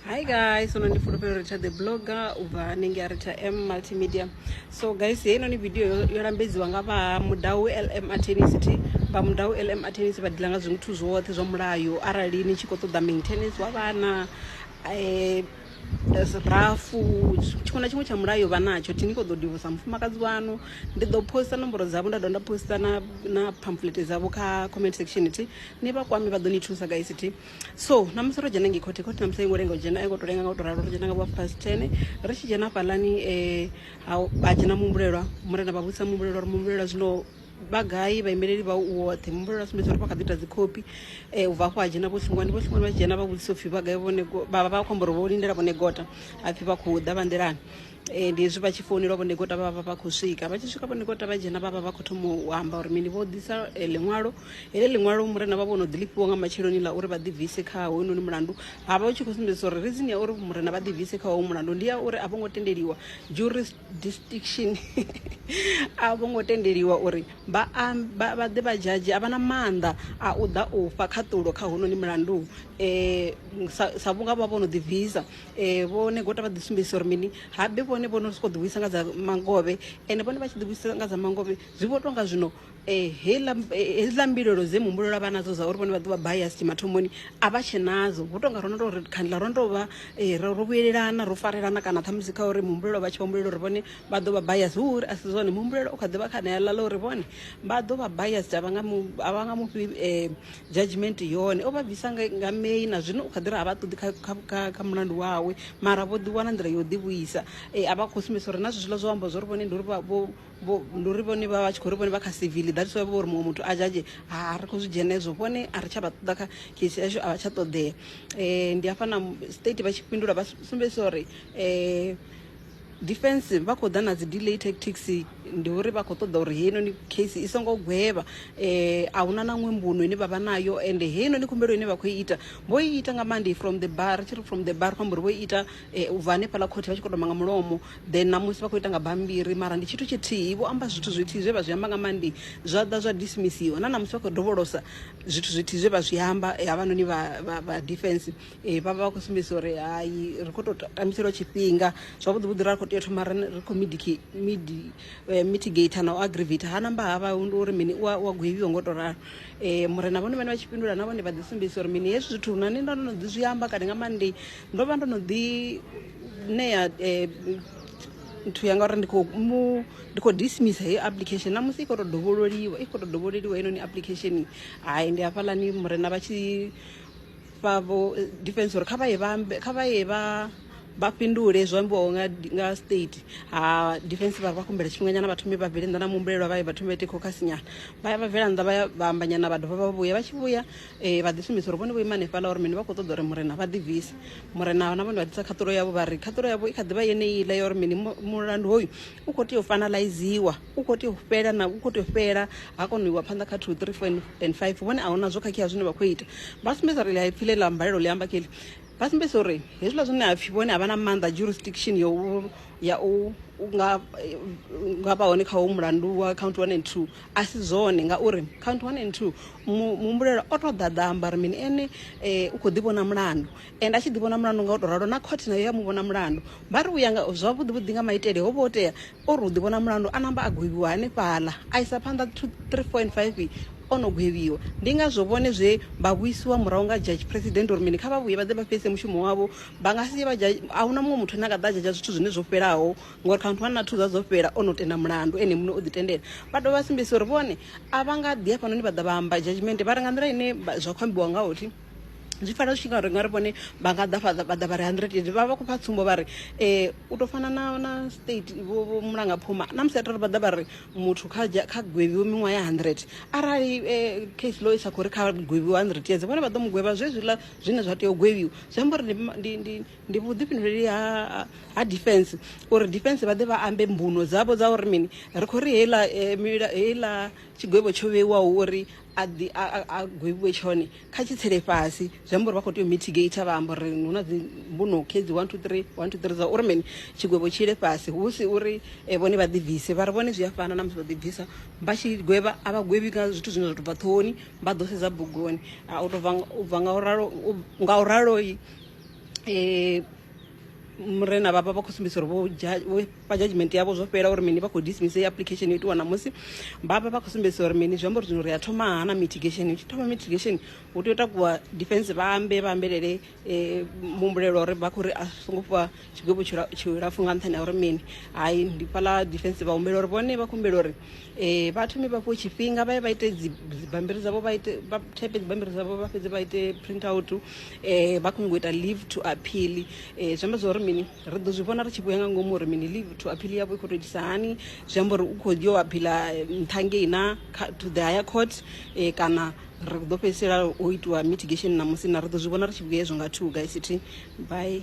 hi guys so ndi fulufhelo ri tsha the blogger u bva hanengei a ri tsha m multimedia so guys heinoni video yo lambedziwa nga vha mudau lm atenicity vha mudau lm atenicity vha dila nga zwithu zwoṱhe zwa mulayo arali ni tshi khou ṱoḓa maintenance wa vhana um rafu tshiṅwe na tshiṅwe tsha mulayo vha natsho thi ni kho ḓo divosa mufumakadzi wanu ndi ḓo posta nomboro dzavho nda dovha nda posta na na pamphlet dzavho kha comment section thi ni vha kwame vha ḓo ni thusa guys thi so namusi ro dzhena ngei khothe khothe namusi aingo lenga u dzhena aingo to lenga nga u to ralo ro dzhena nga vha past ten ri tshi dzhena fhalani um ha vha dzhena muhumbulelwa murena vha vhudzisa muhumbulelwa uri muhumbulelwa zwino vha gai vhaimeleli vha u woṱhe muhumbulelwa a sumbedza uri vha kha ḓi ita dzikhophi um ubva afho ha dzhena vho hlungwani vho hlungwani vha tshi dzhena vha vhudzisa upfhi vha gai vhone vha vha vha khou amba uri vho lindela vhone gota hapfhi vha khou ḓa vha nḓilani Eh, ndi hezwi vha tshi founelwa vhonekota vha vha vha khou swika vha tshi swika vhonekota vha dzhena vha vha vha khou thoma u amba uri mini vho ḓisa eh, ḽiṅwalo heḽi ḽiṅwalo murena vha vho no ḓi lifhiwa nga matsheloni ḽa uri vha ḓibvise kha hoyunoni mulandu ha vha u tshi khou sumbedzisa uri reason ya uri murena vha ḓibvise kha hoyu mulandu ndi ya uri a vho ngo tendeliwa jurisdiction a vho ngo tendeliwa uri vha am- vha vha ḓe vha dzhadzhe a vha na maanḓa a u ḓa u fha khaṱulo kha hounoni mulandu um sa sa vhunga vha vho no ḓibvisa ee vho negota vha ḓi sumbedzisa uri mini habe vhone vho no sokou ḓivhuisa nga dza mangovhe ende vhone vha tshi ḓivhuisa nga dza mangovhe zwi vho tonga zwino um eh, hedziḽa eh, mbilelo dze muhumbulo la vha nadzo dza uri vhone vha ḓo vha bayasi mathomoni a vha tshe nadzo vho tonga ro no tou ri khandla ro no tou vha eh, ro vhuyelelana ro farelana kana ṱhamusi kha uri muhumbulo vha tshi vhombulela uri vhone vha ḓo vha bayasi hu uri a si zwone muhumbulo u kha ḓi vha kha neaḽa ḽa uri vhone vha ḓo vha bayasi a vha nga mufhi um Judgement yone o vha bvisa nga May na zwino u kha ḓi ri a vha ṱoḓi kha mulandu wawe mara vho ḓi wana nḓila ya u ḓi vhuisa a vha khou sumbedzisa uri na zwezwiḽa zwo amba zwori vhone ndi uri ndi uri vhone vha vha tshi khou ri vhone vha kha civil that's why vho uri muṅwe muthu a judge ha ri khou zwi dzhena hezwo vhone a ri tsha vha ṱoḓa kha case yashu a vha tsha ṱoḓea ndi hafha na state vha tshi fhindula vha sumbedzisa uri Defence vha khou ḓa na dzi delay tactics ndi uri vha khou ṱoḓa uri heinoni case i songo gwevha eh, a huna na ṅwe mbuno ine vha vha nayo ende heinoni khumbelo ine vha khou i ita vho i ita nga monday from the bar ri tshi ri from the bar khou amba uri vho i ita eh, u bva hanefhaḽa khothe vha tshi khou toma nga mulomo then namusi vha khou ita nga bammbiri mara ndi tshithu tshithihi vho amba zwithu zwithihi zwe vha zwi amba nga monday zwa ḓa zwa dismissiwa na namusi vha khou dovholosa zwithu zwithihi zwe vha zwi amba eh, havhanoni vha, vha, vha defence Ee vha vha vha khou sumbedzisa uri hai ri khou tou tambiselwa tshifhinga zwavhuḓi vhuḓi ra khou tea thoma ri ri khou midiki midi eh, mitigator na u aggravator ha namba ha vha ndi uri mini u a u a gwevhiwa ngo tou ralo um murena vhone vhane vha tshi fhindula na vhone vha ḓi sumbedzisa uri mini hezwi zwithu na nṋe ndo no ḓi zwi amba kale nga maanḓei ndo vha ndo no ḓi ṋea um nthu yanga uri ndi khou mu ndi khou dismissa heyo application na musi i khou tou dovhololiwa i khou tou dovhololiwa heinoni application hai ndi hafhaḽani murena vha tshi vha vho defense uri kha vha ye vha ambe kha vha ye vha vha fhindule zwo ambiwaho nga nga state ha defense vha vha kumbela tshifhinganyana vha thome vha bvele nnḓa na muhumbulelwa vha ye vha thome vha ite khokhasi nyana vha ya vha bvela nnḓa vha ya vha amba nyana vha dovha vha vhuya vha tshi vhuya eh, vha ḓi sumbedza uri vhone vho ima hanefhaḽa uri mini vha khou ṱoḓa uri murena vha ḓibvise murena na vhone vha ḓisa khaṱulo yavho vha ri khaṱulo yavho i kha ḓi vha yeneiḽa ya uri mini mu- mulandu hoyu u khou tea u fanalaiziwa u kho tea u fhela na u kho tea u fhela ha kona u iwa phanḓa kha two three four and five vhone a huna zwo khakhea zwine vha khou ita vha sumbedza uri ḽi pfhi ḽe ḽa mbalelo ḽi amba kheḽi vha sumbedza uri hezwiḽa zwine ha pfhi vhone a vha na maanḓa jurisdiction ya u ya u nga nga vha hone kha ho mulandu wa count one and two a si zwone ngauri count one and two muhumbulela o to ḓaḓa amba uri mini ene um u kho ḓi vhona mulandu and a tshi ḓi vhona mulandu nga u to ralo na khothe nayo ya mu vhona mulandu vha ri u ya nga zwavhuḓi vhuḓi nga maitele ho vha ho tea O ri u ḓivhona mulandu a namba a gwevhiwa hanefhaḽa, a isa phanḓa 2, 3, 4 and 5 o no gwevhiwa. Ndi ngazwo vhone zwe vha vhuisiwa murahu nga Judge President uri mini, kha vha vhuye vha ḓe vha fhelise mushumo wavho, vha nga si ye vha judge, a hu na muṅwe muthu ane a nga ḓa a judge zwithu zwine zwo fhelaho ngori khamusi one na two zwa dzo fhela o no tenda mulandu ene muṋe o ḓi tendela. Vha dovha vha sumbedzisa uri vhone a vha nga ḓi hafhanoni vha ḓa vha amba judgement vha ri nga nḓila ine zwa khou ambiwa ngaho thi zwi fanela zwi tshi nga ri nga ri vhone vha nga ḓa fhaḽa vha ḓa vha ri 100 years vha vha vha khou fha tsumbo vha ri u to fana na na state vho vho mulanga phuma na musi atari vha ḓa vha ri muthu kha kha gwevhiwe miṅwaha ya 100 arali eh, case law isa khori kha gwevhiwe 100 years vhone vha ḓo mu gwevha zwe zwiḽa zwine zwa tea u gwevhiwa zwi amba uri ndi- ndi ndi ndi vhuḓifhinduleli ha ha defense uri defense vha ḓe vha ambe mbuno dzavho dza uri mini ri khou ri heiḽa eh, mila- heiḽa tshigwevho tsho vheiwaho uri a ḓi a a- a gwevhiwe tshone kha tshi tsele fhasi zwi amba uri vha khou tea u mitigator vha amba uri hu na dzi mbuno khedzi 1 2 3 1 2 3 dza uri mini tshigwevho tshi ile fhasi hu si uri eh, vhone vha ḓi bvise vha ri vhone zwi a fana na musi vha ḓi bvisa vha tshi gwevha a vha gwevhi nga zwithu zwine zwa tou bva ṱhohoni vha ḓo sedza bugoni Ah, u tou bva nga- u bva nga u ralo u- nga u raloi um murena vhavha vha khou sumbedzisa uri vho dzha- vho vha judgement yavho zwo fhela uri mini vha khou dismiss heyi application yo itiwa ṋamusi vha vha vha khou sumbedzisa uri mini zwi amba uri zwino ri a thoma ha na mitigation hu tshi thoma mitigation hu tea u takuwa defense vha ambe vha ambelele um muhumbulelwa uri vha khou ri a songo fhiwa tshigwevho tshilapfhu nga nṱhani ha uri mini hai ndi fhaḽa defense vha humbela uri vhone vha khou humbela uri um vha thome vha fhiwe tshifhinga vha ye vha ite dzibammbiri dzavho vha ite vha thepe dzibammbiri dzavho vha fhedze vha ite print out um vha khou nyanga u ita leave to appeal um zwi amba zwa uri mini Ri ḓo zwi vhona ri tshi vhuya nga ngomu uri mini leave to appeal yavho i khou tou itisa hani zwi amba uri u khou yo aphila nṱha ngei na to the higher court eh, kana ri ḓo fhedzisela o itiwa mitigation ṋamusi na ri ḓo zwi vhona ri tshi vhuya hezwo nga two guys thi bye